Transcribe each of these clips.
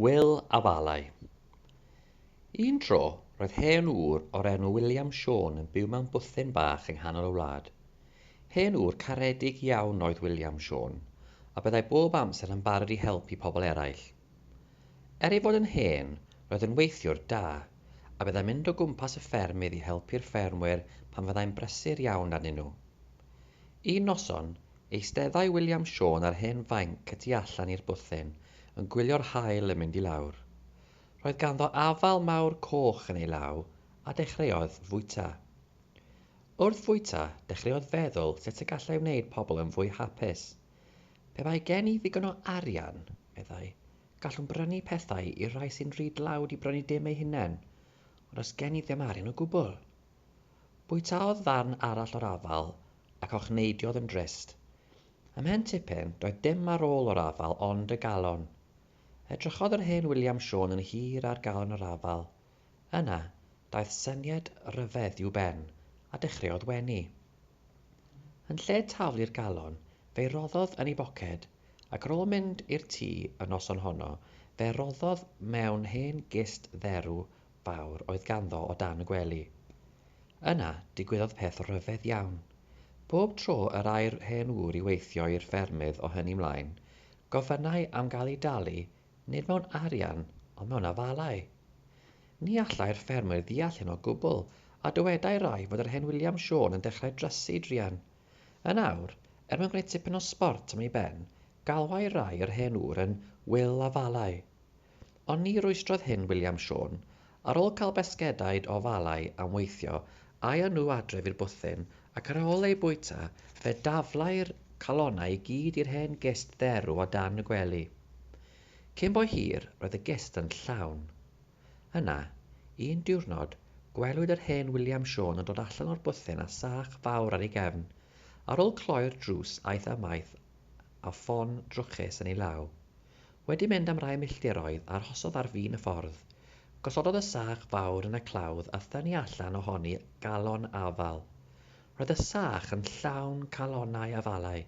Wil a Walai. Un tro, roedd hen ŵr o'r enw William Siôn yn byw mewn bwthyn bach yng nghanol y wlad. Hen ŵr caredig iawn oedd William Siôn, a byddai bob amser yn barod i helpu pobl eraill. Er ei fod yn hen, roedd yn weithiwr da, a byddai'n mynd o gwmpas y ffermydd i helpu'r ffermwyr pan fyddai'n brysur iawn arnyn nhw. Un noson, eisteddai William Siôn ar hen fainc y tu allan i'r bwthyn, yn gwylio'r haul yn mynd i lawr. Roedd ganddo afal mawr coch yn ei law, a dechreuodd fwyta. Wrth fwyta, dechreuodd feddwl sut y gallai wneud pobl yn fwy hapus. Pe bai gen i ddigon o arian, meddai, gallwn brynu pethau i'r rhai sy'n rhy dlawd i brynu dim eu hunain, ond os gen i ddim arian o gwbl, Bwytaodd ddarn arall o'r afal ac ochneidiodd yn drist. Ymhen tipyn, doedd dim ar ôl o'r afal ond y galon. Edrychodd yr hen William Siôn yn hir ar galon yr afal. Yna, daeth syniad ryfedd i'w ben, a dechreuodd wenu. Yn lle taflu'r galon, fe'i roddodd yn ei boced, ac ar ôl mynd i'r tŷ y noson honno, fe roddodd mewn hen gist dderw fawr oedd ganddo o dan y gwely. Yna, digwyddodd peth rhyfedd iawn. Bob tro yr ai'r hen ŵr i weithio i'r ffermydd o hynny 'mlaen, gofynnai am gael ei dalu, nid mewn arian, ond mewn afalau. Ni allai'r ffermwyr ddeall hyn o gwbl, a dywedai rai fod yr hen William Siôn yn dechrau drysu druan. Yn awr, er mwyn gwneud tipyn o sbort am ei ben, galwai rai yr hen ŵr yn 'Wil Afalau'. Ond ni rwystrodd hyn William Siôn. Ar ôl cael basgedaid o falau am weithio, aethon nhw adref i'r bwthyn, ac ar ôl eu bwyta, fe daflai'r calonnau i gyd i'r hen gist dderw o dan y gwely. Cyn bo hir, roedd y gist yn llawn. Yna, un diwrnod, gwelwyd yr hen William Siôn yn dod allan o'r bwthyn â sach fawr ar ei gefn. Ar ôl cloi'r drws aeth amaeth â ffon drwchus yn ei law. Wedi mynd am rai milltiroedd, arhosodd ar fin y ffordd. Gosododd y sach fawr yn y clawdd a thynnu allan ohoni galon afal. Roedd y sach yn llawn calonnau afalau.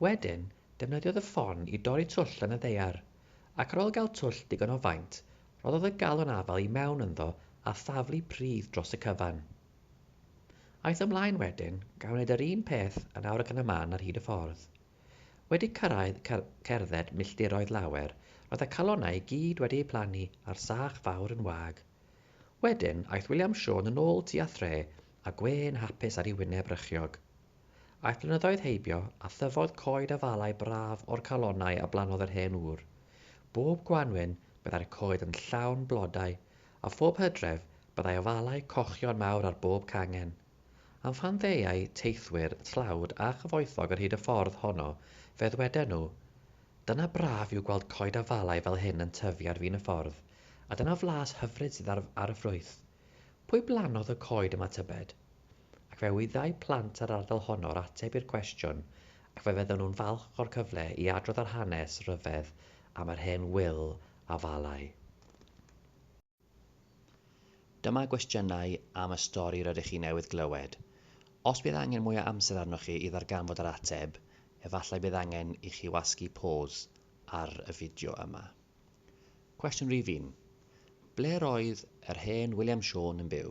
Wedyn, defnyddiodd y ffon i dorri twll yn y ddaear, ac ar ôl gael twll digon o faint, rhoddodd y galon afal i mewn ynddo a thaflu pridd dros y cyfan. Aeth ymlaen wedyn, gan wneud yr un peth yn awr ac yn y man ar hyd y ffordd. Wedi cyrraedd cerdded milltiroedd lawer, roedd y calonnau i gyd wedi eu plannu a'r sach fawr yn wag. Wedyn, aeth William Siôn yn ôl tua thre a gwên hapus ar ei wyneb rychiog. Aeth blynyddoedd heibio, a thyfodd coed afalau braf o'r calonnau a blannodd yr hen ŵr. Bob gwanwyn, byddai'r coed yn llawn blodau, a phob hydref, byddai afalau cochion mawr ar bob cangen. Am phan ddeuai teithwyr tlawd a chyfoethog ar hyd y ffordd honno, fe ddweden nhw, Dyna braf yw gweld coed a falau fel hyn yn tyfu ar fin y ffordd, a dyna flas hyfryd sydd ar, ar y ffrwyth. Pwy blannodd y coed yma tybed? Ac fe wyddai plant yr ardal honno'r ateb i'r cwestiwn ac fe fyddan nhw'n falch o'r cyfle i adrodd yr hanes ryfedd am yr hen ŵyl a falai. Dyma gwestiynau am y stori rydych chi newydd glywed. Os bydd angen mwy o amser arnoch chi i ddarganfod yr ateb, efallai bydd angen i chi wasgu pôs ar y fideo yma. Cwestiwn rhif un. Ble roedd yr hen William Siôn yn byw?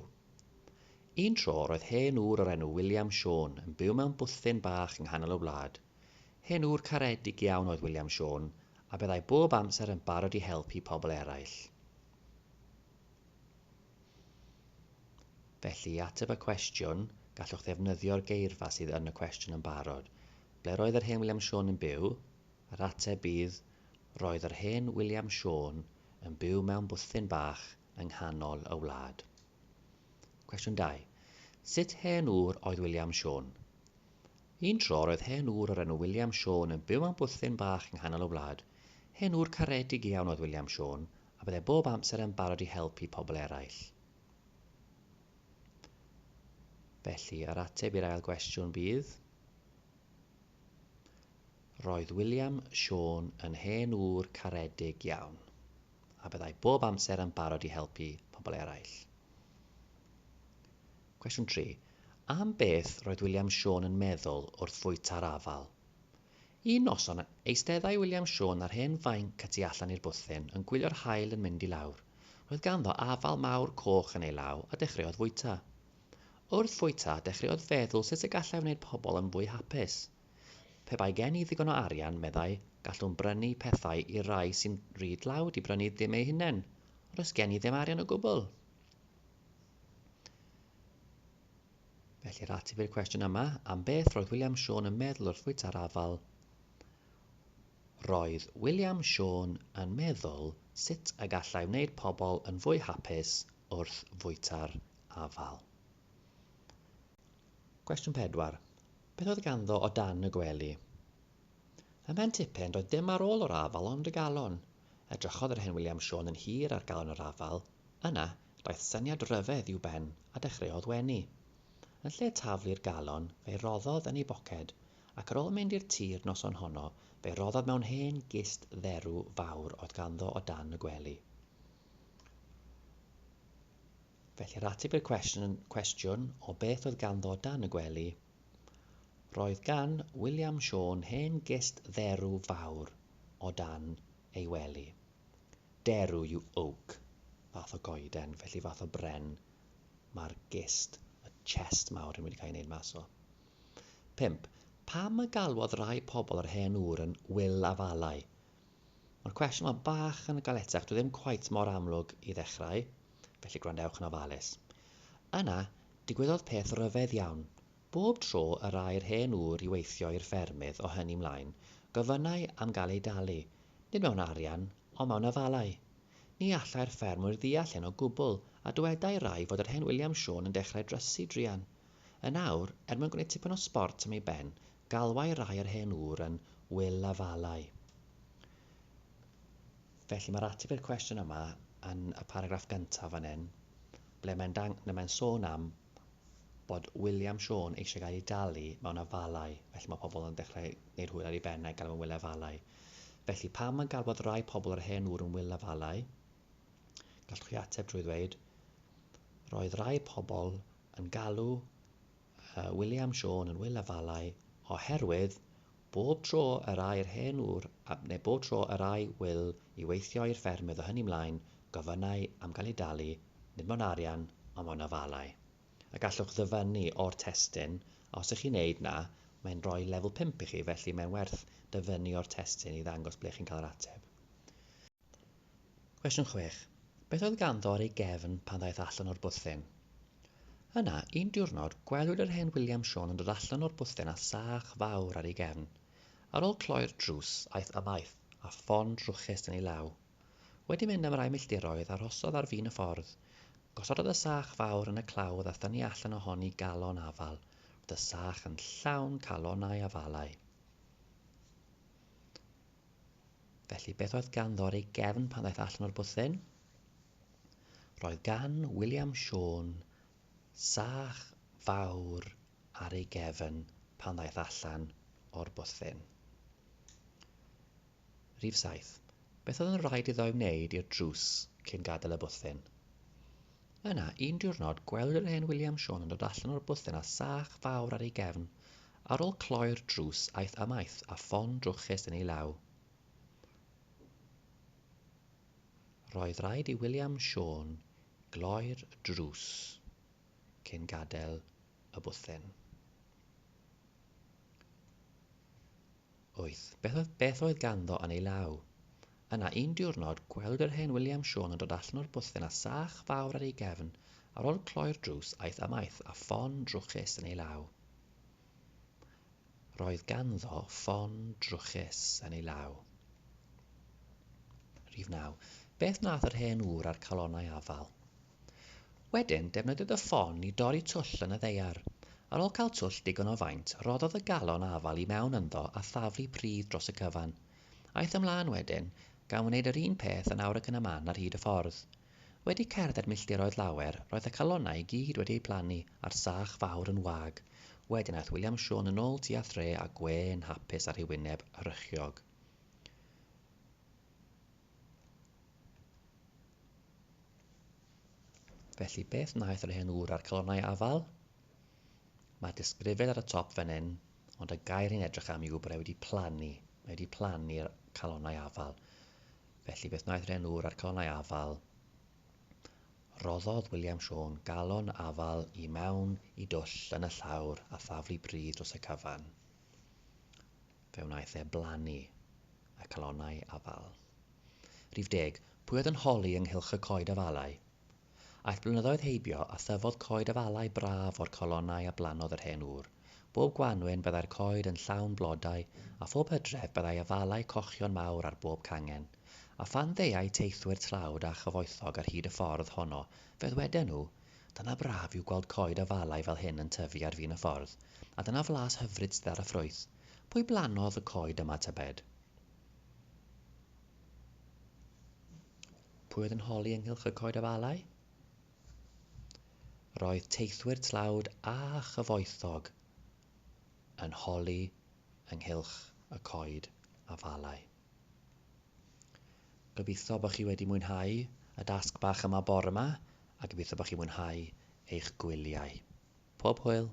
Un tro roedd hen ŵr o'r enw William Siôn yn byw mewn bwthyn bach yng nghanol y wlad. Hen ŵr caredig iawn oedd William Siôn, a byddai bob amser yn barod i helpu pobl eraill. Felly, i ateb y cwestiwn, gallwch ddefnyddio'r geirfa sydd yn y cwestiwn yn barod. Ble roedd yr hen William Siôn yn byw? Yr ateb bydd, Roedd yr hen William Siôn yn byw mewn bwthyn bach yng nghanol y wlad. Cwestiwn 2. Sut hen ŵr oedd William Siôn? Un tro roedd hen ŵr o'r enw William Siôn yn byw mewn bwthyn bach yng nghanol y wlad. Hen ŵr caredig iawn oedd William Siôn, a byddai bob amser yn barod i helpu pobl eraill. Felly, yr ateb i'r ail gwestiwn bydd... Roedd William Siôn yn hen ŵr caredig iawn, a byddai bob amser yn barod i helpu pobl eraill. Cwestiwn 3. Am beth roedd William Siôn yn meddwl wrth fwyta'r afal? Un noson, eisteddai William Siôn ar hen fainc y tu allan i'r bwthyn yn gwylio'r haul yn mynd i lawr. Roedd ganddo afal mawr coch yn ei law a dechreuodd fwyta. Wrth fwyta, dechreuodd feddwl sut y gallai wneud pobl yn fwy hapus. Pe bai gen i ddigon o arian, meddai, gallwn brynu pethau i'r rhai sy'n rhy dlawd i brynu ddim eu hunain. Ond oes gen i ddim arian o gwbl? felly'r ateb i'r cwestiwn yma am beth roedd william siôn yn meddwl wrth fwyta'r afael roedd william siôn yn meddwl sut y gallai wneud pobl yn fwy hapus wrth fwyta'r afael cwestiwn 4 beth oedd ganddo o dan y gwely ym mhen tipyn doedd dim ar ôl yr afael ond y galon Edrychodd yr hen William Siôn yn hir ar galon yr afael, yna, daeth syniad ryfedd i'w ben a dechreuodd wenu. Yn lle taflu'r galon, fe'i roddodd yn ei boced, ac ar ôl mynd i'r tir noson honno, fe'i roddodd mewn hen gist dderw fawr oedd ganddo o dan y gwely. Felly, yr ateb i'r cwestiwn, cwestiwn o beth oedd ganddo o dan y gwely, Roedd gan William Siôn hen gist dderw fawr o dan ei wely. Derw yw oak, fath o goeden, felly fath o bren mae'r gist, y chest mawr hyn wedi cael ei wneud mas o. 5. Pam y galwodd rai pobl yr hen ŵr yn Wil Afalau? Mae'r cwestiwn yma bach yn galetach, dwi ddim cweit mor amlwg i ddechrau, felly gwrandewch yn ofalus. Yna, Digwyddodd peth ryfedd iawn. Bob tro yr ai'r hen ŵr i weithio i'r ffermydd o hynny 'mlaen, gofynnai am gael ei dalu, nid mewn arian, ond mewn afalau. Ni allai'r ffermwyr ddeall hyn o gwbl, a dywedai rai fod yr hen William Siôn yn dechrau drysu druan. Yn awr, er mwyn gwneud tipyn o sbort am ei ben, galwai rai yr hen ŵr yn 'Wil Afalau'. Felly, mae'r ateb i'r cwestiwn yma yn y paragraff gyntaf fan hyn, ble mae'n dang- ble mae'n sôn am bod William Siôn eisiau gael ei dalu mewn afalau, felly mae pobl yn dechrau gwneud hwyl ar ei ben a'i galw yn Wil Afalau. Felly, pam mae'n galwad rai pobl yr hen ŵr yn Wil Afalau? Gallwch chi ateb drwy ddweud, Roedd rai pobl yn galw y William Siôn yn Wil Afalau oherwydd bob tro yr ai'r hen ŵr a, neu bob tro yr ai Wil i weithio i'r ffermydd o hynny 'mlaen, gofynnai am gael ei dalu, nid mewn arian, ond mewn afalau. A gallwch ddyfynnu o'r testun, a os ych chi'n neud 'na, mae'n rhoi lefel pump i chi, felly mae'n werth dyfynnu o'r testun i ddangos ble chi'n cael yr ateb. Cwestiwn 6. Beth oedd ganddo ar ei gefn pan ddaeth allan o'r bwthyn? Yna, un diwrnod, gwelwyd yr hen William Siôn yn dod allan o'r bwthyn â sach fawr ar ei gefn. Ar ôl cloi'r drws, aeth ymaith, â ffon drwchus yn ei law. Wedi mynd am rai milltiroedd, arhosodd ar fin y ffordd. Gosododd y sach fawr yn y clawdd a thynnu allan ohoni galon afal. Roedd y sach yn llawn calonnau afalau. Felly beth oedd ganddo ar ei gefn pan ddaeth allan o'r bwthyn? Roedd gan William Siôn sach fawr ar ei gefn pan ddaeth allan o'r bwthyn. Rhif 7. Beth oedd yn rhaid iddo ei wneud i'r drws cyn gadael y bwthyn? Yna, un diwrnod, gwelwyd yr hen William Siôn yn dod allan o'r bwthyn â sach fawr ar ei gefn. Ar ol cloi'r drws aeth amaeth a ffon drwchus yn ei law. Roedd raid i William Siôn gloi'r drws cyn gadael y bwthyn. Wyth, beth oedd, beth oedd ganddo yn ei law? Yna, un diwrnod, gwelwyd yr hen William Siôn yn dod allan o'r bwthyn â sach fawr ar ei gefn, ar ol cloi'r drws, aeth amaeth â ffon drwchus yn ei law. Roedd ganddo ffon drwchus yn ei law. Rhif naw, beth wnaeth yr hen ŵr â'r calonnau afal? Wedyn, defnyddio dy ffon i dorri twll yn y ddaear. Ar ôl cael twll digon o faint, rhoddodd y galon afal i mewn ynddo a thaflu pridd dros y cyfan. Aeth ymlaen wedyn, gan wneud yr un peth yn awr ac yn y man ar hyd y ffordd. Wedi cerdded milltiroedd lawer, roedd y calonnau i gyd wedi eu plannu a'r sach fawr yn wag. Wedyn aeth William Siôn yn ôl tua thre a gwên hapus ar ei wyneb rychiog. Felly beth wnaeth yr hen ŵr a'r calonnau afael? Mae disgrifed ar y top fan hyn, ond y gair ni'n edrych am yw bod e wedi plannu. Mae wedi plannu'r calonnau afael. Felly beth wnaeth yr hen ŵr a'r calonnau afael? Rhoddodd William Siôn galon afal i mewn i dwll yn y llawr a thaflu pridd dros y cyfan. Fe wnaeth e blannu y calonnau afal. Rhif deg, pwy oedd yn holi ynghylch y coed afalau? Aeth blynyddoedd heibio a thyfodd coed afalau braf o'r calonnau a blannodd yr hen ŵr. Bob gwanwyn byddai'r coed yn llawn blodau a phob hydref byddai afalau cochion mawr ar bob cangen. A phan ddeuai teithwyr tlawd a chyfoethog ar hyd y ffordd honno fe ddweden nhw, Dyna braf yw gweld coed a falau fel hyn yn tyfu ar fin y ffordd, a dyna flas hyfryd sydd ar y ffrwyth. Pwy blannodd y coed yma tybed? Pwy oedd yn holi ynghylch y coed a falau? Roedd teithwyr tlawd a chyfoethog yn holi ynghylch y coed a falau. Gobeithio bod chi wedi mwynhau y dasg bach yma bore yma a gobeithio bod chi'n mwynhau eich gwyliau. Pob hwyl!